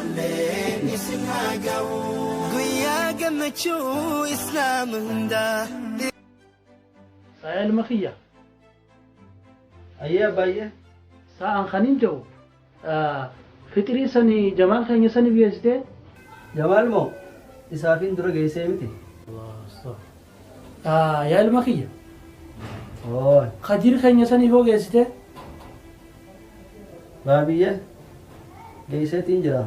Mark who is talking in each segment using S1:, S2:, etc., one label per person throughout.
S1: Onneen isin haa ga'u. Guyyaa gammachuu Islaama hundaa.
S2: Saaya ilma kiyya. Hayyee
S3: abbaayye. Saa an kanin
S2: jahu fixirii sani jamaal keenya sanif geessitee? Jamaal
S3: moo isaafin dura geessee miti.
S2: Yaa ilma kiyya.
S3: Khadir keenya
S2: sanii hoo geessitee?
S3: Baabiyye geesseetiin jira.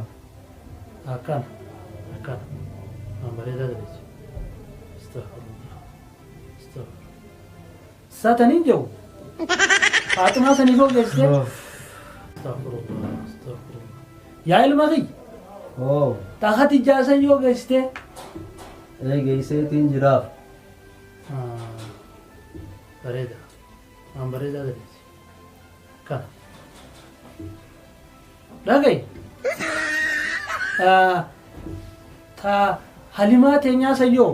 S2: Akkana. Akkana. Waan bareedaa dabeessa. Astaghfirullah. Astaghfirullah. Sa tan hin jau. Faaximaa sanii soo geessite. Astaghfirullah, astaghfirullah. Yaa ilma kiyya. Oo.
S3: Ta Khadijaa
S2: san yoo geessite.
S3: Ee geesseetiin jiraaf.
S2: Bareeda. Waan bareedaa gadeessi. Kana. Dhagayi. Ta halimaa teenyaa sayyoo.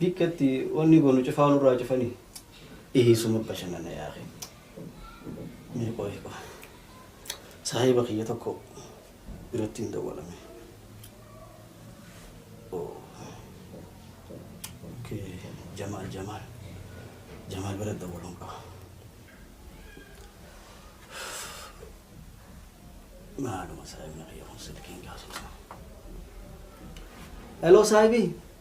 S4: Bikka itti wanni goonu cufaa nurraa cufanii. Eeysuma bashannana yaa akhi. Mee qoyi qoyi. Saahiba kiyya tokko biratti hin dawwalame. Oh. Okay. Jamaal Jamaal. Jamaal bira dawwaluun qaba. Maaluma saahibni kiyya kun silkiin kaasuu.
S3: Hello saahibii.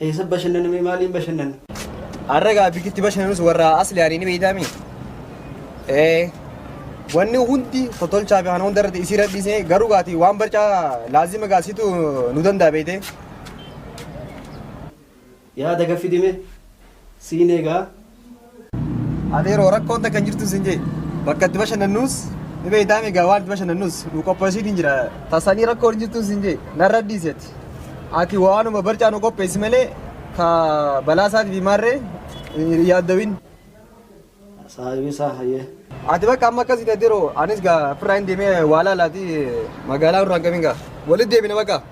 S3: Eessa bashannana mee maaliin bashannana? Har'a egaa
S5: bikkitti bashannanus warra asli ani ni beeytaami. Ee wanni hundi totolchaa fi kana hunda irratti isii radhiisee garuu gaati waan barcaa laazima gaasitu nu danda'a beeytee.
S3: Yaada gaffi dime siin egaa
S5: Ati yeroo rakkoon takka hin jirtu sin jee bakka itti bashannannus ni beektaa migaa waan itti bashannannus nu qopheessiin hin jira. Tasanii rakkoon hin jirtu sin jee narra dhiiseeti. Ati waanuma barcaa nu qopheessi malee ka balaa isaati fi maarree hin yaaddawin.
S3: Saahibii isaa hayyee. Ati bakka amma akkasii
S5: ta'e diroo anis gaa firraa hin deemee waa laalaati magaalaa irraa hin qabin gaa walitti deebina bakka.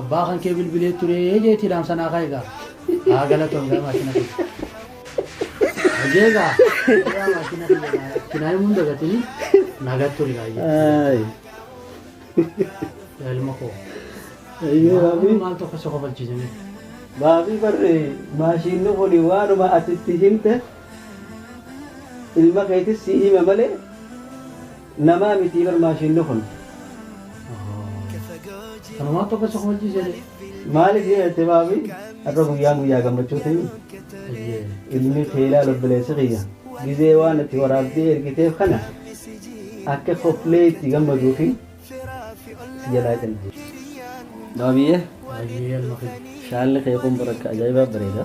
S2: Abbaa kan kee bilbilee ture jeetii dhaamsa naa kaa'e gaa. Haa galatoom gaa maashina kiyya. Hojii gaa. Yaa maashina kiyya gaa. Kinaa himuun dagatini nagaa ture gaa. Ay. Yaa ilma koo. Ayyee Maal baabii. maal tokko si kofalchiisanii. Baabii
S3: barre maashinni kun waanuma ati itti himte ilma keetis si hime malee Namaa mitii bar maashiinni kun.
S2: Kanumaa tokko isa kofalchii seetee. Maalif yoo
S3: jette baabi har'a guyyaan guyyaa gammachuutimii ilmi kee ilaalu obboleessi kiyya gizee waan itti waraabdee ergiteef kana akka koflee itti gammaduufi si jalaa cina. Baabiyee
S2: shaalli kee kun bar
S3: akka ajaa'ibaa bareeda.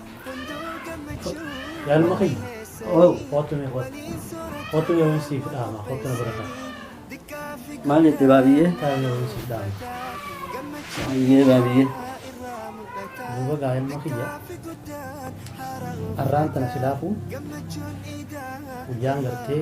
S2: Yaaluma kiyya. Oo. Kootu mee kootu. Kootu mee waan siif dhaama. Kootu na bira ta'a.
S3: Maal jette baabiyyee? Taa'ee mee waan siif dhaama.
S2: Baabiyyee
S3: baabiyyee.
S2: Duuba gaa ilma kiyya. Arraan tana silaafuu guyyaan gartee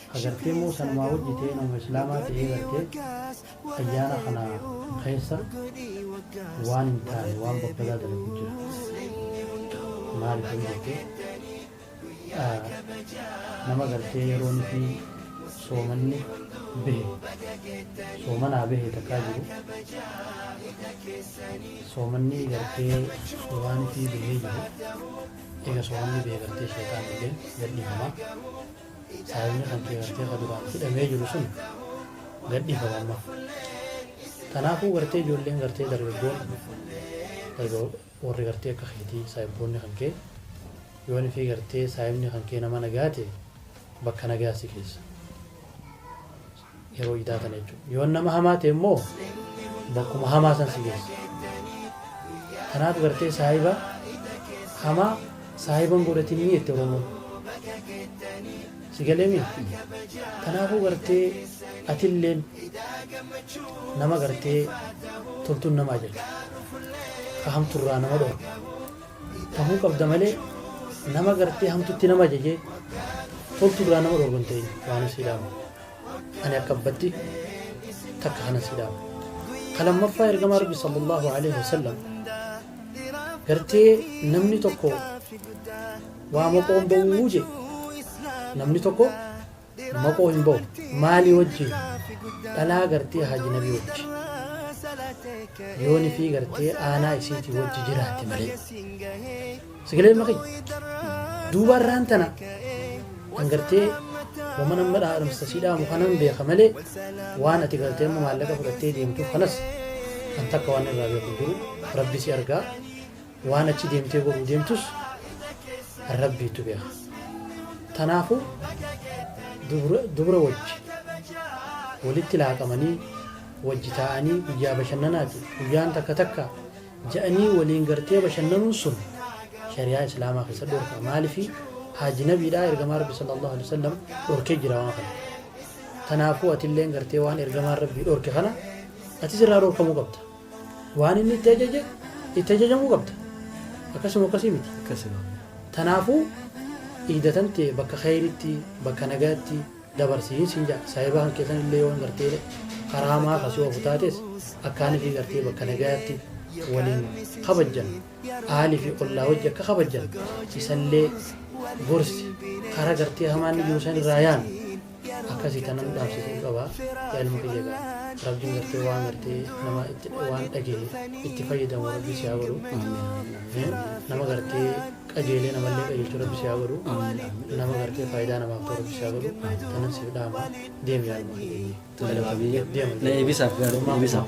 S2: Agartee moo sanumaa hojjitee nama islaamaa ta'ee gartee ayyaana kana keessa waan hin taane waan babbadaa dalagu jira maaliif yoo jette nama gartee yeroo nuti soomanni bahe soomanaa bahe takkaa jiru soomanni gartee waan itti bahee jiru eega soomanni bahe gartee sheetaan illee gadhiifama Saahibni kankee gartee ka duraan hidhamee jiru sun gadhiifame amma. Tanaafuu gartee ijoolleen gartee dargaggoon egaa warri gartee akka keetii saahibboonni kankee yoon fi gartee saahibni kankee nama nagaa ta'e bakka nagaa si keessa. yeroo idaa tana jechuudha. Yoon nama hamaa ta'e immoo bakkuma hamaa san si geessa. Kanaaf gartee saahiba hamaa saahiba hin godhatinii jette Oromoon. Si galeemi? Kanaafuu gartee atilleen nama gartee toltuun namaa jirti. Ka hamturraa nama dhorku. tahuu qabda malee nama gartee hamtutti nama ajajee toltu biraa nama dhorgu hin ta'in waan si dhaama ani akka abbatti takka kana si dhaama ka lammaffaa ergama rabbi sallallahu alaihi wasallam gartee namni tokko waa maqoon ba'uu je namni tokko Maqoo hin bahu maali wajji dhalaa gartee haaji nabii wajji yoo nifii gartee aanaa isiitii wajji jiraate malee sigilee maqi duuba irraan tana kan gartee wama nama dhaadhamsa sii dhaamu kanan beeka malee waan ati gartee amma maallaqa fudhattee deemtuuf kanas kan takka waan irraa beeku jiru rabbi si argaa Waan achi deemtee godhuu deemtus Rabbiitu beeka. Tanaafu dubra dubra wajji walitti laaqamanii wajji taa'anii guyyaa bashannanaati guyyaan takka takka ja'anii waliin gartee bashannanuun sun shari'aa islaamaa keessa dhorka maalifi haajinabiidhaa ergamaa rabbi sallallahu alaihi wasallam dhorkee jira waan kana. Tanaafu atilleen gartee waan ergamaan rabbii dhorke kana atis irraa dhorkamuu qabda. Waan inni itti ajaje itti ajajamuu qabda. Akkas moo akkasii miti? Akkasi maam. Tanaafuu iida tante bakka kheyritti, bakka nagayatti dabarsiin siin ja'a. Saahiba kankee sanillee yoo gartee karaa hamaa ka si oofu taates akkaanifi gartee bakka nagayatti waliin kabajjan, ahali fi ollaa wajji akka kabajjan isallee gorsi. Kara gartee hamaa inni jiru sanirraa yaami. Akkasi tanan dhaamsisuu qaba yaa ilma kiyya egaa rabbiin gartee waan gartee nama itti waan dhagahe itti fayyadamu rabbi si haa godhu nama gartee qajeelee namallee qajeelchuu rabbi si haa godhu nama gartee faayidaa namaaf ta'u rabbi si haa godhu tanan siif dhaama deemi yaa ilma kiyya. Tole, Galatoomi.
S3: Deema. Na eebisaaf gaaruu eebisaaf.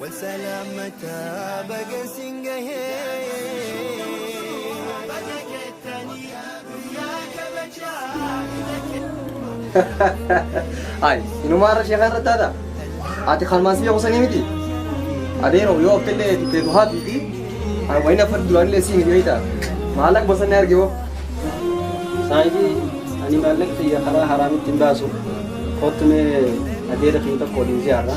S1: Wal
S5: salaamata baga sin Ay, inumaa irra sheekaa irra taata. Ati kalmaan si beekusanii miti. Adeero yoo akka illee teetu haa fiiti. Ani wayina fadhi duraan illee si miti wayita. Maallaqa bosonni arge hoo.
S3: Saayibii ani maallaqa kiyya karaa haraamitti hin baasu. Kottu mee adeera kiyya tokko waliin ziyaarra.